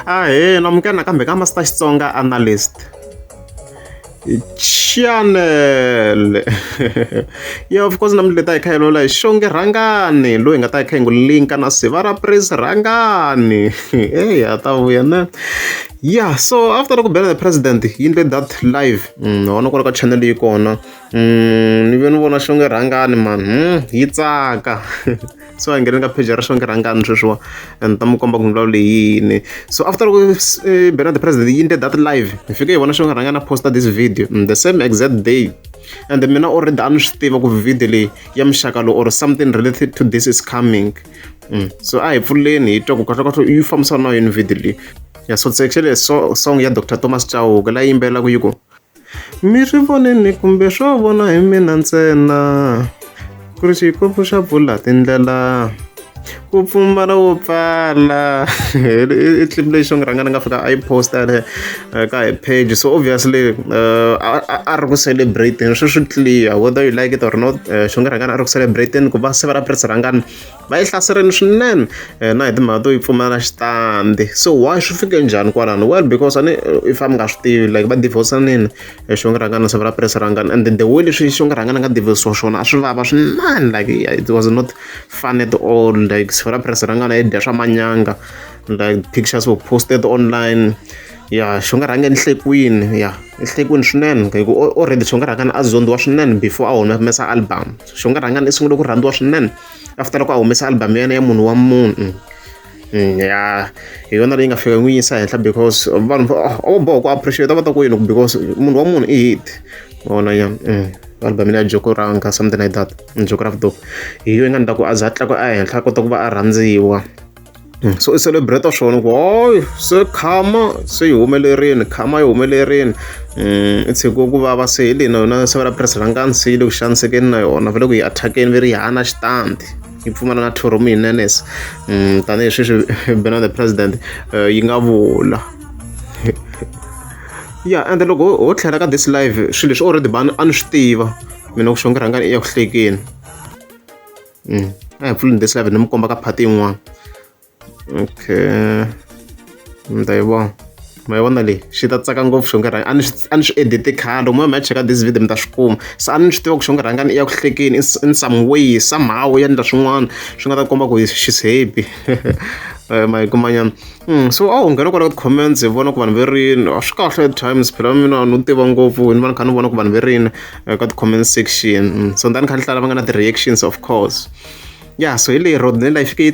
Ahee, namukela nakambe ka Master Xitsonga Analyst. Channel. yeah, of course namuntlha ta hi kha hi lola hi xonge rhangani loyi nga ta hi kha hi n'wi linka na siva ra praise rhangani. Hey, a ta vuya na. Yeah, so after ku bela the president yi ndle that live. Mm, wona kwala ka channel yi kona. Mm, ni ve ni vona xonge rhangani man. Mm, yi tsaka. so a nghene ka page ra xivangelo rhangani sweswiwa and ta mi komba ku milawu leyini so after loko eh, bernard the president yi nde that live hi fike hi vona xivangelo rhangani a posta this video mm, the same exact day and mina already a ni swi tiva ku video leyi ya muxaka lowu or something related to this is coming mm. so a hi pfuleni hi twa ku kahlokahlo yi fambisana na yini video leyi ya so actually so song ya dr thomas chauke la yimbelelaka yi ku Mi swi vonile kumbe swo vona hi mina ntsena ku ri xikomu xa bula tindlela ku pfumala wo pfala i clip leyi xo ni rhanga ni nga fika a yi post-a le ka hi page so obviously a a a ri ku celebrate-eni sweswi clear whether you like it or not xi nga rhangaka a ri ku celebrate-eni ku va se va ri va tirhisa rhangana. va yi hlaserini swinene eh, na hi timhaka to yi pfumala xitandi so why swi fike njhani kwalano well because ani eh, if a mi nga swi tivi like va divorsanini eh, xongirangana se va ra presa rangana and then the way leswi xongirangana nga divorsiwa xona a swi vava swinene like it was not fun at all like se va ra presa rangana yi dya swa manyanga like pictures were posted online ya xi nga rhanga enhlekwini ya enhlekwini swinene hiku already xi nga rhangana a zondiwa swinene before a humesa album xi nga rhangana i sungule ku rhandziwa swinene after loko a humesa album ya yena ya munhu wa munhu mm, ya hi yona leyi nga fika n'wi yisa henhla because vanhu o boha ku appreciate va ta ku yini because munhu wa munhu i hit vona ya mm, album ya joko ranga something like that mm, joko ra vutomi hi yo yi nga ni ta ku a za a tlakuka ehenhla a kota ku va a rhandziwa so i celebrate-a swona ku hoyi se khama se yi humelerile khama yi humelerile i tshiki ku vava se hi leyi na yona se va la purasi ra nkansi yi le ku xanisekeni na yona va le ku yi attack-eni va ri yi hana xitandi yi pfumala na thoromi hi nenes tanihi sweswi bena the president yi nga vula ya ende loko ho tlhela ka this live swilo leswi already bani a ni swi tiva mina ku xonge rhangani i ya ku hlekeni Mm. A hi pfuleni this live ni mi komba ka phati yin'wana. Okay. Mi ta yi vona. ma yi vona leyi xi ta tsaka ngopfu xo nge rhanga a ni swi edite khale moya mi ya cheka this video mi ta swi kuma se a ni swi tiva ku xo nge rhangani i ya ku hlekeni in some way somehow ya endla swin'wana swi nga ta komba ku she's happy eh, ma yi kumanyana so a wu nghena kwala ka comments hi vona ku vanhu ve rini a swi kahle at times phela mina no tiva ngopfu ni va ni kha ni vona ku vanhu ve rini eh, ka ti-comment section so ndani kha ni hlala va nga na ti-reactions of course ya so hi leyi road nela yi fike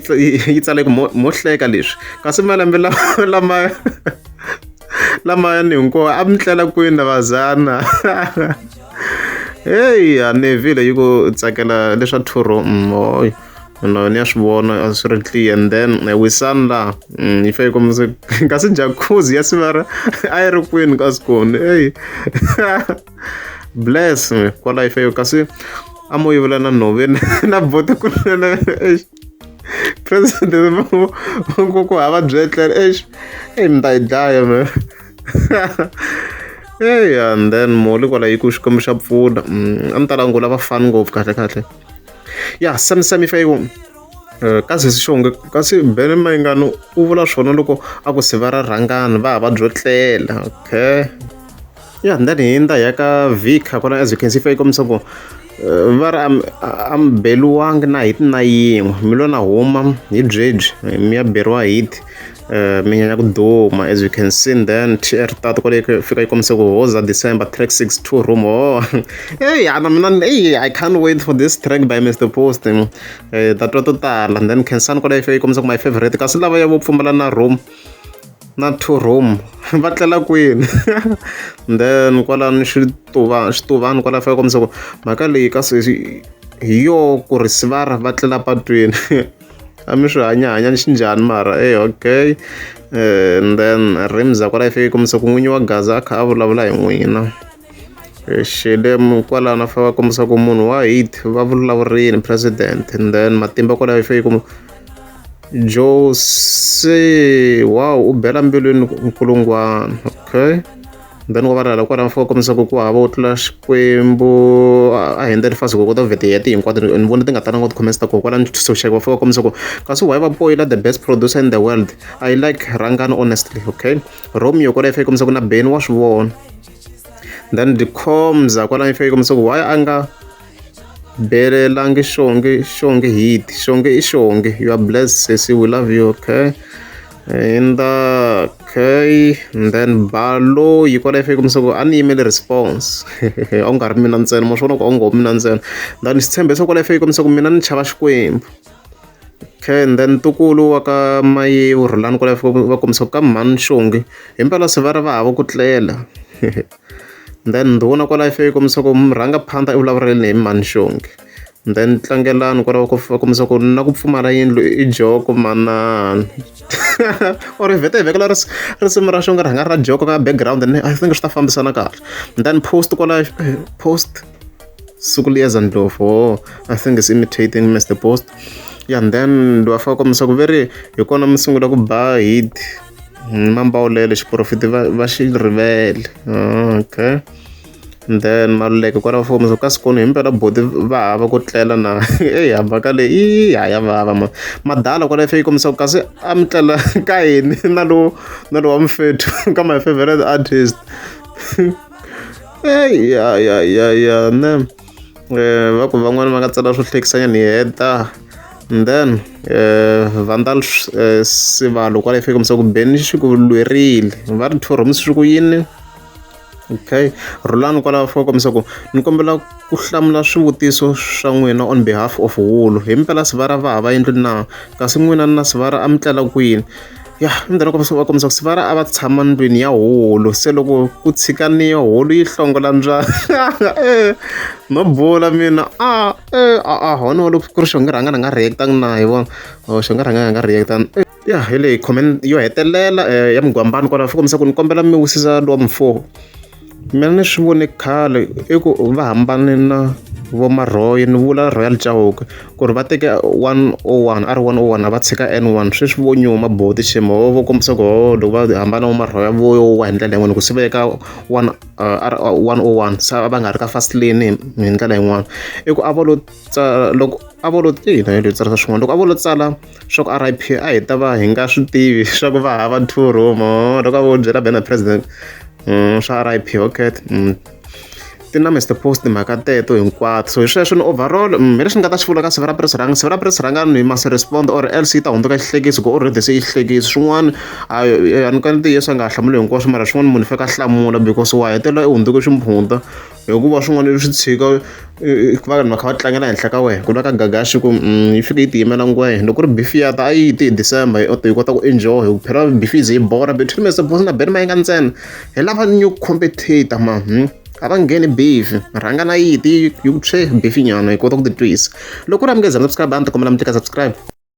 yi tsale ku mo hleka leswi kasi malembe lama lamayani hinkwawo a mi tlela kwini lavazana heyi a nevile yi ku tsakela leswa thuro moyo mm, na ni ya swi vona a swi ri clear and then eh, wisani laha mm, yi fa yi kombisa kasi jacuzzi ya sivara a yi ri kwini ka sikoni eyi bless kwala yi fa yo kasi a mo yivula na nhove na bote kunene eish president ku ku hava byi etlela eish eyi mi ta yi dlaya me eyi and then moli kwala yi ku xikwembu xa pfuna mm, a ni ta langula vafani ngopfu kahle kahle ya sami sami fa yona Eh, ka sesi xonge kasi bele mayingano u vula swona loko a ku siva ra rhangana va ha va byo tlela okay ya ndani hi nda ya ka vika kona as you can see fa yi kombisa ku eh, va ri am- a- a mi beliwangi na hiti na yin'we mi lo na huma hi byebyi mi ya beriwa hiti Uh, minya ya ku duma as you can see then tr tatu kwale fika yi kombise ku hoza december track 6 2 room oh hey ana mina hey i can't wait for this track by mr post uh, that to tala then kensan kwale fika yi kombise ku my favorite kasi lava ya vo pfumala na room na two room va tlela kwini then kwalani xituva xituvani kwala fika kombisa ku mhaka leyi kasi hi yo ku ri sivara va tlela patwini a mi swi hanya hanya ni xi njhani mara e okay um then rims a ku ra yi fike kombisa ku n'winyi wa gaza a kha a vulavula hi n'wina xele kwalano fa va kombisa ku munhu wa hit va vulavurini president and then matimba kwalaho yi fike jose wow u bela mbilwini nkulungwana okay then wa valala kwalaho fika kombisa ku ku hava u tlula xikwembu a hundza lifasi ku kota ku vhete yati hinkwato ni vona ti nga talanga ti khomesa ko kwala nitshunxeka va fika kombisa ku kasi why va poyila the best producer in the world i like rangani honestly okay romeo kwala ife kombisa ku na beni wa swi vona then the comza kwala ife kombisa ku why a nga belelangi xonge xonge hit xonge i xonge you are blessed sesi we love you okay in the okay and then balo yi kona ifike kumisa ku a ni yimele response a ku nga ri mina ntsena ma swi vona ku a ngo mina ntsena then ni swi tshembe se kona ifike kumisa ku mina ni chava xikwembu okay and then tukulu wa ka maye u rhulani kona ifike va kombisa ku ka mhani xongi himpela se va ri va hava ku tlela then ndhuna kwala ifike kumisa ku rhanga phanda i vulavureleni hi mhani xongi then tlangelani kwalaho ku kombisa ku na ku pfumala yindlu i joko manana or i vhete hi vekela risimu ra xonga ri hanga ra joko ka background and i think swi ta fambisana kahle then post kwala eh, post siku liyeza ndlovu o oh, i think is imitating mr post ya and then loyi a faka kombisa ku veri hi kona mi sungula ku ba hit hmm, mambawulele xiporofiti va xi rivele ah, okay then maluleke kwala va fowunisa kasi kona himpela boti va hava ku tlela na eyi hambaka leyi i ha ya vava ma madala kwala fa yi kombisa ku kasi a mi tlela ka yini na lowo na lowa mufethu ka my favorite artist eyi ya ya ya ya ne um va ku van'wana va nga tsala swo hlekisanya ni heta and then uh, vandal uh, sivalo kwala fa yi kombisa ku beni xi ku lwerile va ri two roms swi ku yini okay rhulani kwalaho fo kombisa ku ni kombela ku hlamula swivutiso swa n'wina on behalf of wulu hi mpela sivara va hava yendlu na kasi n'wina na sivara a mi tlela kwini ya ndlela kombisa va kombisa ku sivara a va tshama ndlwini ya hulu se loko ku tshikaniwa hulu yi hlongola mbyana e no bula mina a e a a hona wa loko ku ri xo nge rhanga ni nga react-angi na hi vona or xo nge rhanga hi nga react-angi Ya hi leyi comment yo hetelela eh, ya mugwambani kwalaho swi kombisa ku ni kombela mi wisisa lowa mufo mina ni swi vone khale i ku va hambane na vomarhoyi ni vula royal chauke ku ri va teke 101 a ri 101 a va tshika n1 sweswi vo nyuma boti shema ho vo kombisa ku ho loko va hambana vomarhoya vowa hi ndlela yin'wana ku swi veka 101 se va nga ri ka fast lane hi ndlela yin'wana i ku a va lo tsala loko a vo lo ina yo tsala swin'wana loko a vo lo tsala swa ku R_I_P a hi ta va hi nga swi tivi swa ku va hava two room loko a vo byela banner president swa R_I_P okay ti na Mister Post timhaka teto hinkwato so hi sweswo ni overall hi leswi ni nga ta swi vula ka siku ra press run siku ra press run ni must respond or else yi ta hundzuka xihlekisi ku already se yi xihlekisi swin'wana a a ni ka ntiyiso a nga ha hlamuli hinkwaswo mara swin'wana munhu u faneke a hlamula because wa hetelela u hundzuke ximpfundza. hikuva swin'wana leswi tshika va vanhu va kha va tlangela henhla ka wena ku na ka gagaxi ku mm, yi fike yi tiyimela ngwehe loko ri bifi ya ta a yi ti hi december hi kota ku enjoy hi ku phela bifi ze yi bora between mese bosi na beni ma yi nga ntsena hi lava new competitor ma hmm? a va ngheni bifi rhanga na yiti yi ku tshwe bifi nyana hi kota ku titwisa loko u ri amukeza subscribe a ni ti kombela mi tika subscribe